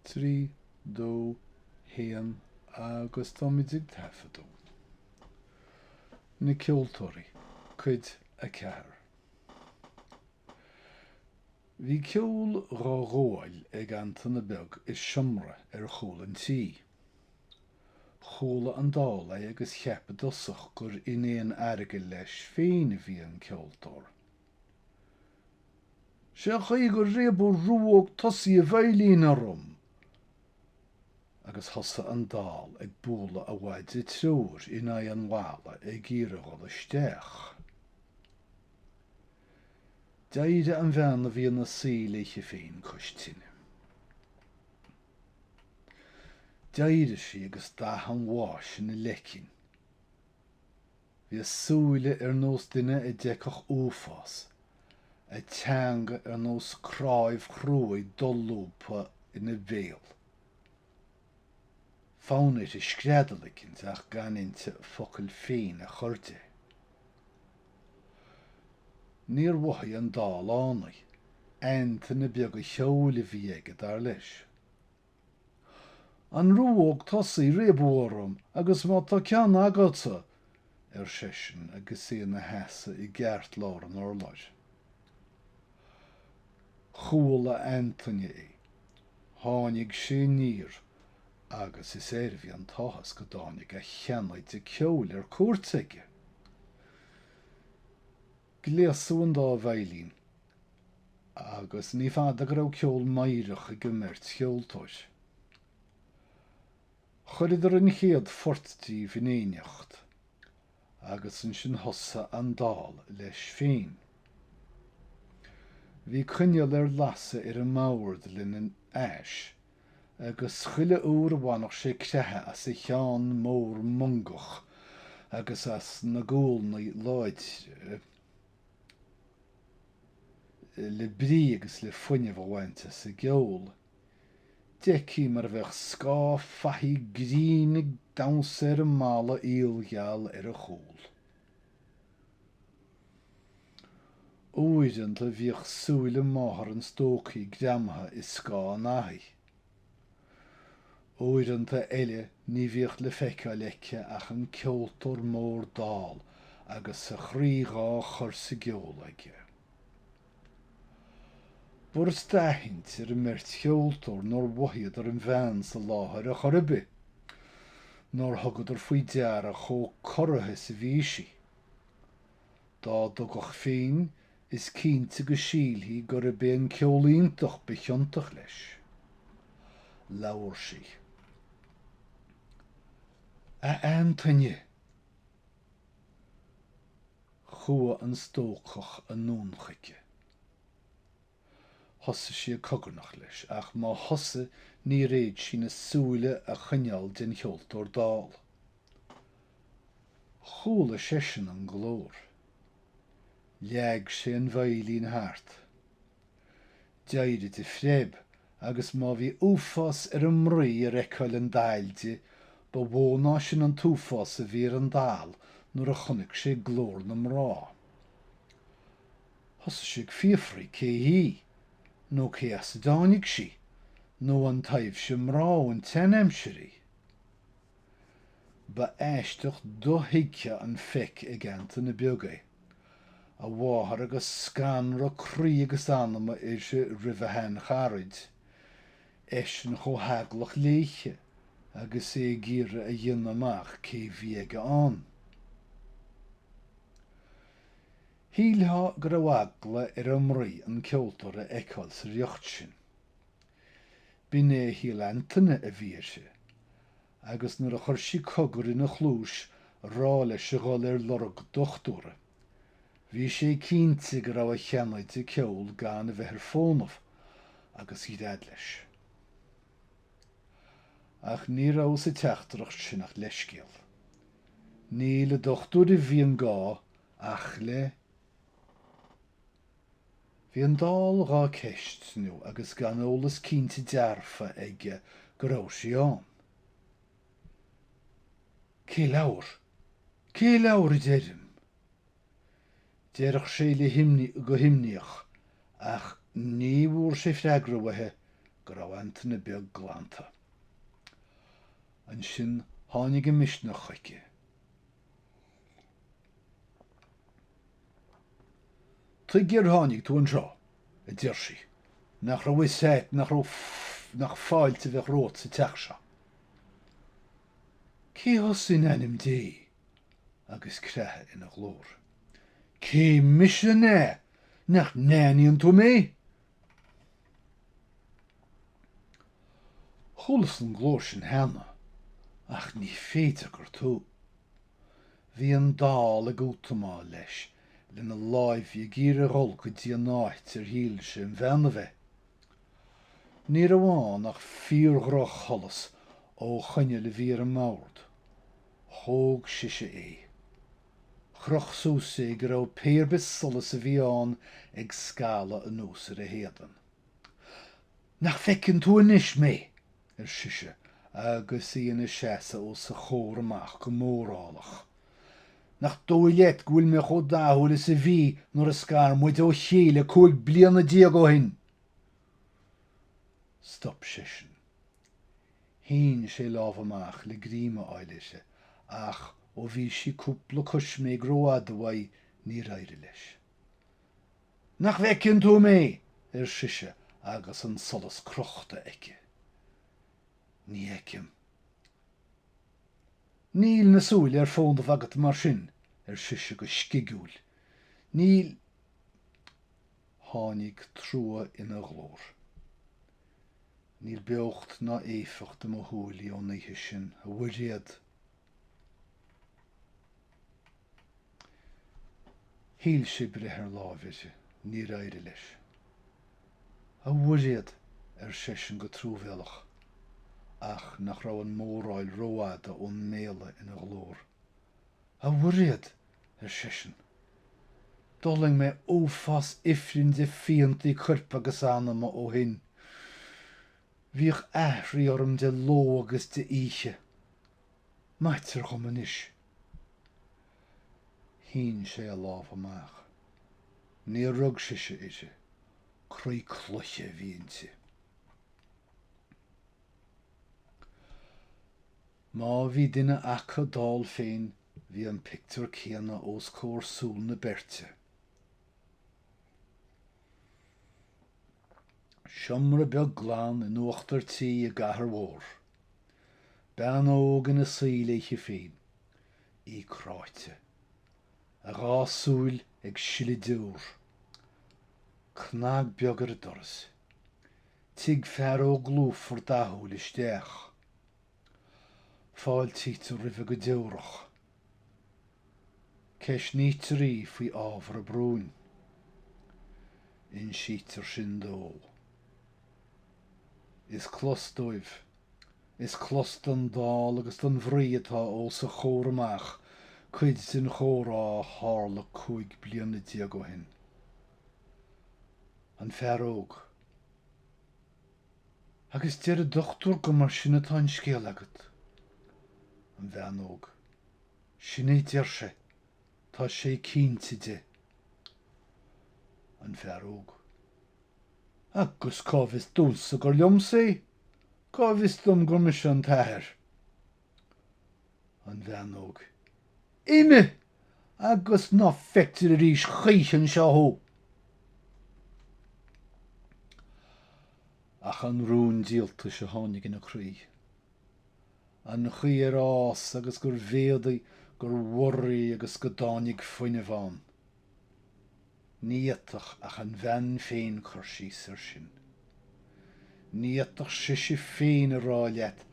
3, 2, 1 agus táimid ag taifeadadh. Na Ceoltóirí, Cuid 4. Bhí ceol dhá ghabháil ag Antaine Beag i seomra ar chúl an tí. Chuala an Dall é agus cheap i dtosach gur in éad airgid leis féin a bhí an ceoltóir. Sé an chaoi gur réabadh ruóg tosaigh an veidhlín orm agus thosaigh an dall ag bualadh a mhaide treoir in aghaidh an bhalla ag iarraidh dhul isteach. D'éirigh an bhean a bhí ina suí léithe féin cois tine. D'éirigh sí agus dath an bháis ina leicinn. Bhí a súile ar nós duine a d'fheicfeadh uafás, a teanga ar nós cnáimh chruaidh dolúbtha ina béal. Fonn uirthi screadaíl eicint ach gan inti focal féin a chur de. Níor mhothaigh an dall ann í. Antaine beag an cheoil a bhí aige, dar leis, An ruóg tosaigh a réabadh orm, agus má tá ceann agatsa! ar seisean agus é ina sheasamh i gceartlár an urláir. Chuala Antaine é. Tháinig sé aniar agus is air a bhí an t-áthas go dtáinig a sheanoide ceoil ar cuairt aige. Gléasadh an dá veidhlín agus ní fada go raibh ceol meidhreach ag an mbeirt cheoltóir. Chuireadar an chéad phort díobh in éineacht agus ansin thosaigh an dall leis féin. Bhí coinneal ar lasadh ar an mbord lena ais agus chuile uair a bhainfeadh sé creathadh as a cheann mór mungach agus as na gualnaí láidre le brí agus le fuinneamh a bhaint as an gceol, d'fheicfí mar a bheadh scáth fathaigh grinn ag damhsa ar an mballa aoilgheal ar a chúl. Uaireanta bhíodh súile máthar an stócaí greamaithe i scáth an fhathaigh. Uaireanta eile ní bhíodh le feiceáil aici ach an ceoltóir mór dall agus a chroí dhá chur sa gceol aige. B'fhurast d'aithint ar an mbeirt cheoltóir nár mhothaíodar an bhean sa láthair ar chor ar bith. Nár thugadar faoi deara chomh corraithe is a bhí sí. Dá dtugadh féin, is cinnte go sílfí gurbh é an ceol iontach ba chiontach leis. Labhair sí. A Antaine! Chuaigh an stócach anonn chuici. Thosaigh sí ag cogarnach leis, ach má thosaigh níor fhéad sí na súile a choinneáil den cheoltóir dall. Chuala seisean an glór. Leag sé an veidhlín thart. D'éirigh de phreib, agus má bhí uafás ar an mnaoi ar fheiceáil an daill di, ba mhó ná sin an t-uafás a bhí ar an dall nuair a chonaic sé glór na mná. Thosaigh sé ag fiafraí cé hí, nó cé as a dtáinig sí, nó an taibhse mná ón tseanaimsir í. Ba aisteach dothuigthe an feic ag Antaine beag é. A mháthair agus scanradh croí agus anama uirthi roimh a shean-charaid, eisean chomh heaglach léithe agus é ag iarraidh a dhéanamh amach cé bhí aige ann. Shílfeá go raibh eagla ar an mnaoi an ceoltóir a fheiceáil sa riocht sin. B'in é a shíl Antaine a bhí uirthi, agus nuair a chuir sí cogar ina chluais a rá leis a dhul ar lorg dochtúra, bhí sé cinnte go raibh a sheanoide ceoil gan a bheith ar fónamh, agus ghread leis. Ach ní raibh sa teachtaireacht sin ach leithscéal. Ní le dochtúir a bhí an gá Ach le Bhí an dall dhá ceistniú agus gan eolas cinnte dearfa aige go raibh sí ann. Cé labhair? Cé labhair a deirim? Deireadh sé léi go himníoch ach ní bhfuair sé freagra uaithi go raibh Antaine beag glanta. Ansin tháinig an misneach chuici. Tuige ar tháinig tú anseo? a deir sí. Nach raibh 'fhios a't nach fáilte a bheadh romhat sa teach seo? Cé thusa in ainm Dé? agus creathadh ina ghlór. Cé mise an ea nach n-aithníonn tú mé? Chualas an glór sin cheana, ach ní féidir gur tú. Bhí an Dall ag útamáil leis lena láimh ag iarraidh dhul go dtí an áit ar shíl sé an bhean a bheith. Ní raibh ann ach fíor-dhroch-sholas ó choinneal a bhí ar an mbord. Thóg sise é. Chroch suas é go raibh pé ar bith solas a bhí ann ag scaladh anuas ar a héadan. Nach bhfeiceann tú anois mé? ar sise, agus í ina seasamh os a chomhair amach go mórálach. 'Nach dóigh leat go bhfuil mé chomh dathúil is a bhí nuair a scar muid ó chéile cúig bliana déag ó shin? Stop seisean. Shín sé lámh amach le greim a fháil uirthi, ach ó bhí sí cúpla coisméig rófhada uaidh, níor éirigh leis. Nach bhfeiceann tú mé? ar sise agus an solas crochta aici. Ní fheicim. Níl na súile ar fónamh agat mar sin, ar sise go scigiúil. Níl Tháinig trua ina ghlór. Níl beocht ná éifeacht i mo shúilí ón oíche sin, a Mhuiréad. Shíl sé breith ar láimh uirthi. Níor éirigh leis. A Mhuiréad, ar seisean go truamhéalach, ach nach raibh an móráil rófhada ón méala ina ghlór. A Mhuiréad! ar seisean. D'fhulaing mé uafás ifrinn de phiantaí coirp agus anama ó shin. Bhíodh aithrí orm de ló agus de oíche. Maitear dhom anois Shín sé a lámh amach. Níor rug sise uirthi. Croí cloiche a bhí inti. Má bhí duine acu dall féin, bhí an pictiúr céanna os comhair súl na beirte. Seomra beag glan in uachtar tí i gcathair mhór. Bean óg ina suí léithe féin. Í cráite. A dhá súil ag sileadh deor. Cnag beag ar an doras. Tig fear óg lúfar dathúil isteach. Fáiltítear roimhe go deorach. Ceistnítear í faoi ábhar a bróin. Insítear sin dó. Is clos dóibh. Is clos don Dall agus don mhnaoi atá os a chomhair amach cuid den chomhrá a tharla cúig bliana déag ó shin. An fear óg. Agus deir an dochtúir gur mar sin atá an scéal agat. An bhean óg. Sin é a deir sé. Tá sé cinnte de. An fear óg. Agus cá bhfios domhsa gur liomsa é? Cá bhfios dom gur mise an t-athair? an bhean óg. Imigh agus ná feictear arís choíche anseo thú. Ach an rún díoltais a tháinig ina croí, an chaoi ar fhás agus gur mhéadaigh, gur bhorraigh agus go dtáinig fuinneamh ann. Ní fhéadfadh ach an bhean féin cur síos ar sin. Ní fhéadfadh sise féin a rá leat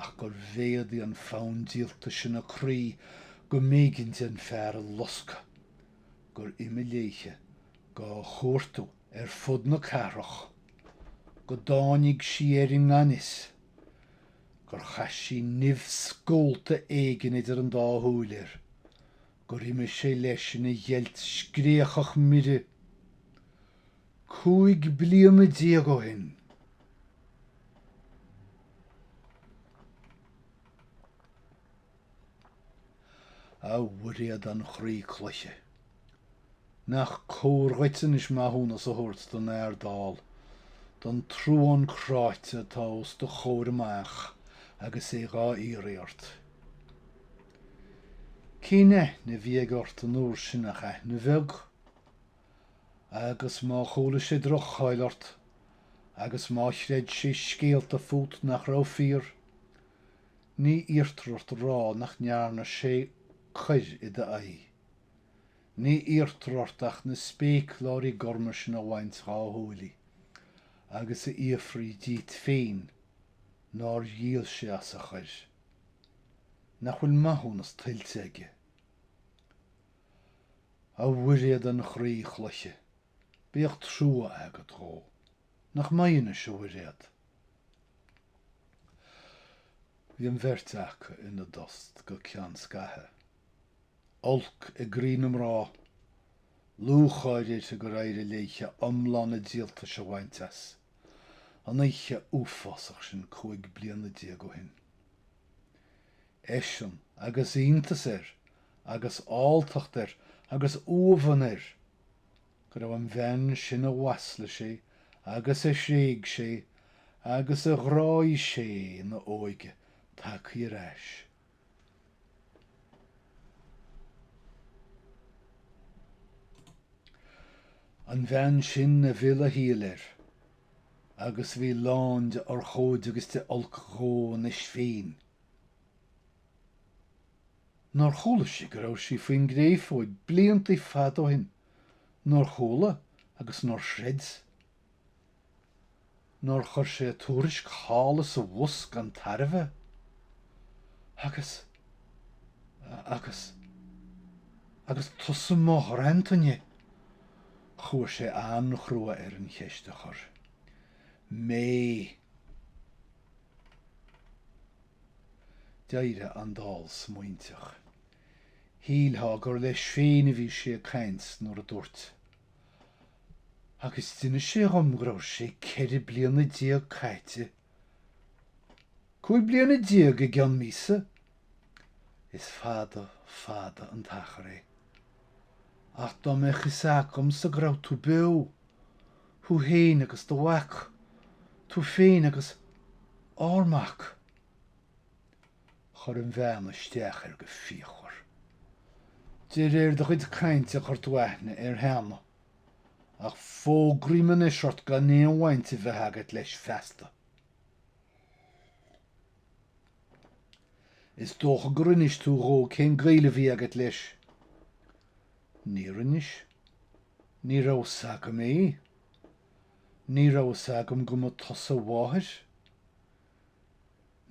ach gur mhéadaigh an fonn díoltais ina croí go mb'éigin di an fear a loscadh, gur imigh léithe dhá chuartú ar fud na cathrach, go dtáinig sí air i ngan fhios, gur chaith sí nimh scólta éigin idir an dá shúil air, gur imigh sé leis ina gheilt scréachach mire cúig bliana déag ó shin. A Mhuiréad an chroí cloiche, nach cóir dhuit anois maithiúnas a thabhairt don fhear dall, don truán cráite atá os do chomhair amach agus é dhá iarraidh ort. Cén aithne a bhí aige ort an uair sin ach aithne bheag? Agus má chuala sé droch-cháil ort, agus má chreid sé scéalta fút nach raibh fíor, ní iarrtar ort a rá nach ndearna sé coir i d'aghaidh. Ní iarrtar ort ach na spéacláirí gorma sin a bhaint dhá shúilí, agus a fhiafraí díot féin nár dhíol sé as a choir. nach bhfuil maithiúnas tuillte aige. A Mhuiréad an chroí chloiche, bíodh trua agat dhó. Nach mbeidh anois, a Mhuiréad? Bhí an bheirt aca ina dtost go ceann scaithe. olc i gcroí na mná, lúcháir uirthi gur éirigh léithe iomlán a díoltais a bhaint as, an oíche uafásach sin cúig bliana déag ó shin. Eisean, agus iontas air, agus alltacht air, agus uamhan air, go raibh an bhean sin a mhaslaigh sé, agus a thréig sé, agus a ghráigh sé ina óige, tagtha ar ais. an bhean sin a mhill a shaol air, agus a bhí lán de urchóid agus de olc dhó anois féin. Nár chuala sí go raibh sí faoin gcréafóig blianta fada ó shin? Nár chuala agus nár chreid? nár chuir sé tuairisc thall is abhus gan tairbhe, agus, agus, agus tusa Mairéad, chuaigh sé an-chrua air an cheist a chur. Mé. D'éirigh an dall smaointeach. Shílfeá gur leis féin a bhí sé ag caint nuair a dúirt, agus d'inis sé dhom go raibh sé ceithre bliana déag caite, cúig bliana déag i gceann míosa, is fada, fada an t-achar é, ach dá mbeadh fhios agamsa go raibh tú beo, thú fhéin agus do mhac, tú féin agus ár mac. Chuir an bhean isteach air go fíochmhar. De réir do chuid cainte chuir tú aithne air cheana, ach fógraím anois ort gan aon bhaint a bheith agat leis feasta. Is dócha gur inis tú dhó cén gaol a bhí agat leis? Níor inis. Ní raibh fhios agam é. Ní raibh fhios agam go mba tusa a mháthair.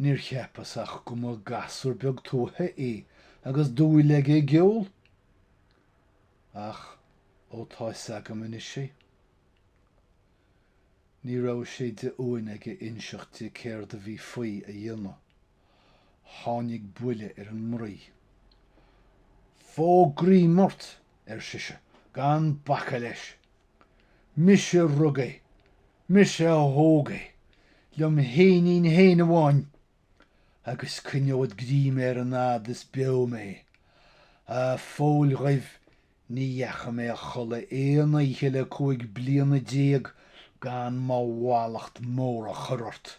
Níor cheapas ach go mba gasúr beag tuaithe é agus dúil aige i gceol. Ach ó tá fhios agam anois é. Ní raibh sé de uain aige inseacht di céard a bhí faoi a dhéanamh. Tháinig buile ar an mnaoi. Fógraím ort! ar sise, gan bacadh leis. Mise rug é! Mise a thóg é, liom fhéinín féin amháin, agus cuinneód greim air an fhad is beo mé. A Phóil Dhuibh, ní dheacha mé a chodladh aon oíche le cúig bliana déag gan mo mhallacht mór a chur ort.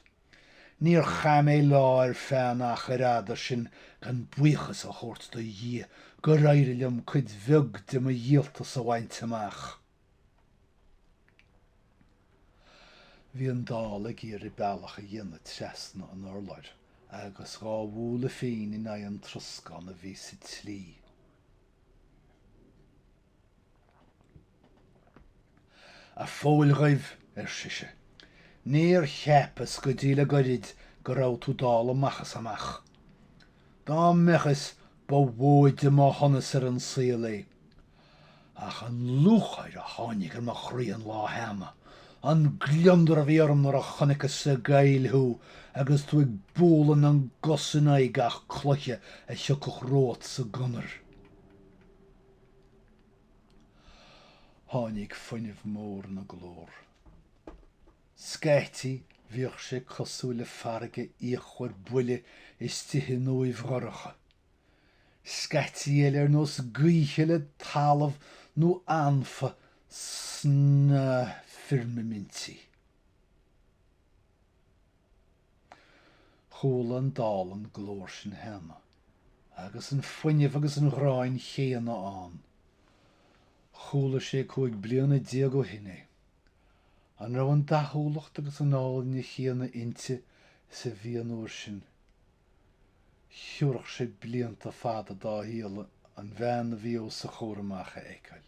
Níor chaith mé lá ar feadh an achair fhada sin gan buíochas a thabhairt do Dhia gur éirigh liom cuid bheag de mo dhíoltas a bhaint amach. Bhí an dall ag iarraidh bealach a dhéanamh trasna an urláir agus dhá bhualadh féin in aghaidh an troscán a bhí sa tslí. A Phóil Dhuibh, ar sise, níor cheapas go dtí le goirid go raibh tú dall amach is amach. Dá mbeadh is ba mhóide mo shonas ar an saol é. Ach an lúcháir a tháinig ar mo chroí an lá cheana, an gliondar a bhí orm nuair a chonaiceas sa gcoill thú agus tú ag bualadh na gcos in aghaidh gach cloiche a thiocfadh romhat sa gconair. Tháinig fuinneamh mór ina glór. Scaití, bhíodh sé cosúil le farraige fhíochmhar buile istigh in uaimh dhorcha. Scaití eile ar nós gaoithe le talamh nó anfa sna firmimintí. Chuala an dall an glór sin cheana, agus an fuinneamh agus an ghráin chéanna ann. Chuala sé cúig bliana déag ó shin é. An raibh an dathúlacht agus an áilne chéanna inti is a bhí an uair sin? Thiúrfadh sé blianta fada dá shaol an bhean a bhí os a chomhair amach a fheiceáil.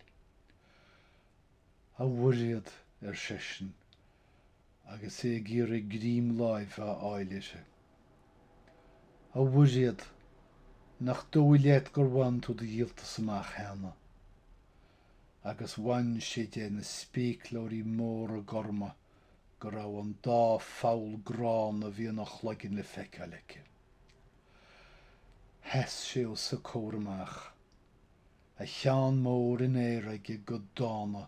'A Mhuiréad, ar seisean, agus é ag iarraidh greim láimhe a fháil uirthi. 'A Mhuiréad, nach dóigh leat gur bhain tú do dhíoltas amach cheana? Agus bhain sé de na spéicleoirí móra gorma. go raibh an dá pholl gránna a bhí ina chloigeann le feiceáil aici. Sheas sé os a comhair amach, a cheann mór in aer aige go dána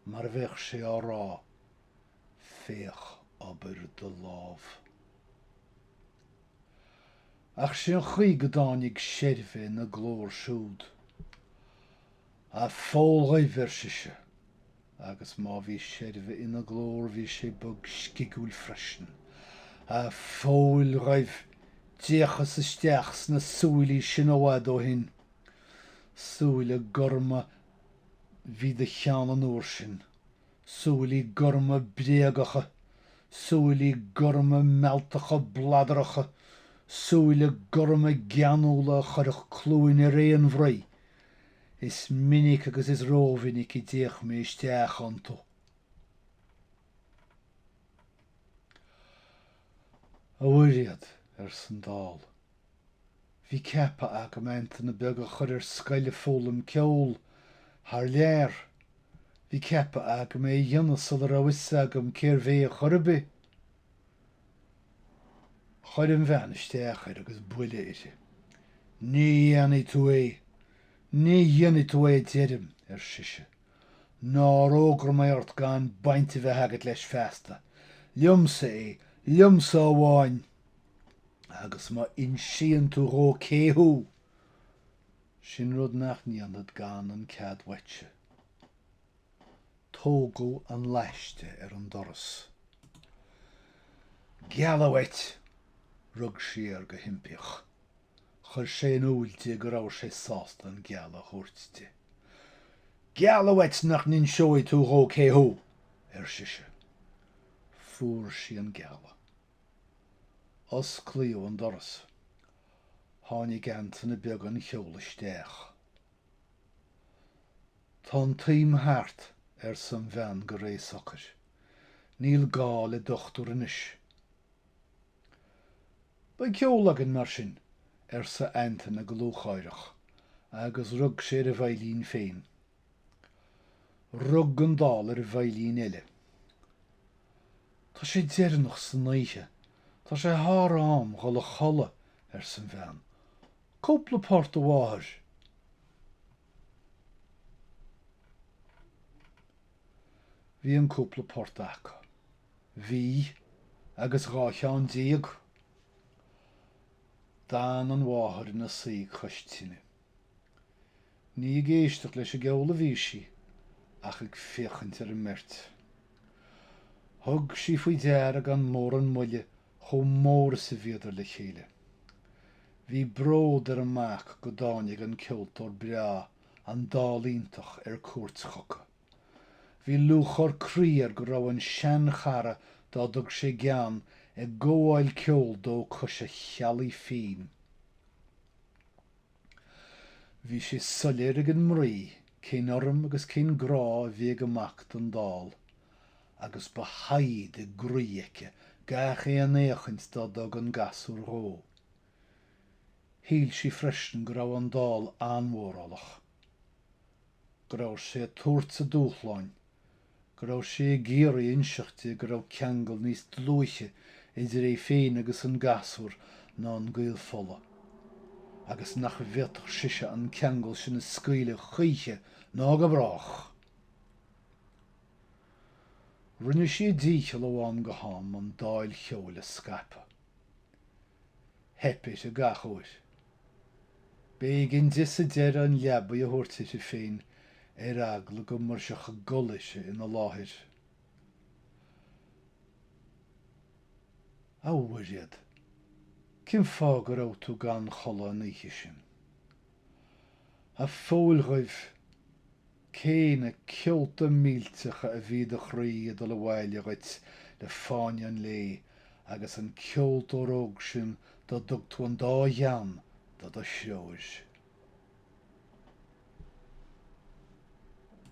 mar a bheadh sé á rá, Féach obair do lámh. Ach sé an chaoi go dtáinig seirbhe ina glór siúd. A Phóil Dhuibh, ar sise, agus má bhí seirbhe ina glór bhí sé bog scigiúil freisin, a Phóil Dhuibh, d'fhéachas isteach sna súilí sin i bhfad ó shin, súile gorma bhí i do cheann an uair sin, súilí gorma bréagacha, súilí gorma mealltacha bladaracha, súile gorma geanúla a chuirfeadh cluain ar aon mhnaoi Is minic agus is rómhinic a d'fhéach mé isteach iontu, a Mhuiréad, arsa an dall. Bhí ceaptha agam Antaine beag a chur ar scoil ag foghlaim ceoil thar lear. Bhí ceaptha agam é a dhéanamh sula raibh fhios agam cérbh é chor ar bith. Chuir an bhean isteach air agus buile uirthi. Ní dhéanfaidh tú é! Ní dhéanfaidh tú é deirim! ar sise. Nár fhógra mé ort gan baint a bheith agat leis feasta! Liomsa é, liomsa amháin! Agus má insíonn tú dhó cé thú, sin rud nach ndéanfad gan an cead uaitse. Tógadh an laiste ar an doras. Gealladh uait! Rug sí air go himpíoch. Chuir sé in iúl di go raibh sé sásta an gealladh a thabhairt di. Gealladh uait nach n-inseoidh tú dhó cé thú! ar sise. Fuair sí an gealladh. Osclaíodh an doras. Tháinig Antaine Beag an cheol isteach. Tá an t-am thart, arsa an bhean go réidh socair. Níl gá le dochtúr anois. Beidh ceol againn, mar sin, arsa Antaine go lúcháireach, agus rug sé ar a bheidhlín féin. Rug an dall ar an bheidhlín eile. Tá sé deireanach san oíche. Tá sé thar am dhul a chodladh, arsa an bhean. Cúpla port amháthair! Bhí an cúpla port acu. Bhí, agus dhá cheann déag! D'fhan an mháthair ina suí cois tine. Ní ag éisteacht leis an gceol a bhí sí, ach ag féachaint ar an mbeirt. Thug sí faoi deara gan mórán moille chomh mór is a bhíodar le chéile. Bhí bród ar an mac go dtáinig an ceoltóir breá an dall iontach ar cuairt chucu. Bhí lúcháir croí air go raibh an seanchara dá dtug sé gean ag gabháil ceoil dó cois a theallaigh féin. Bhí sé soiléir ag an mnaoi cén urraim agus cén grá a bhí ag an mac don dall agus ba shaighead i gcroí aici gach aon fhéachaint dá dtug an gasúr dhó. Shíl sí freisin go raibh an Dall an-mhórálach, go raibh sé ag tabhairt a dúshláin, go raibh sé ag iarraidh inseacht di go raibh ceangal níos dlúithe idir é féin agus an gasúr ná an gaol fola, agus nach bhféadfadh sise an ceangal sin a scaoileadh choíche ná go brách. Rinne sí a dícheall ó am go ham an dáil cheoil a scaipeadh. Theip uirthi gach uair. B'éigean di sa deireadh an leabaidh a thabhairt uirthi féin ar eagla go mbrisfeadh a gol uirthi ina láthair. A Mhuiréad, cén fáth go raibh tú gan chodladh an oíche sin? A Phóil Dhuibh! Cé na ceolta millteacha a bhí i do chroí ag dul abhaile dhuit le fáinne an lae agus an ceoltóir óg sin dá dtug tú an dá ghean do do threoir?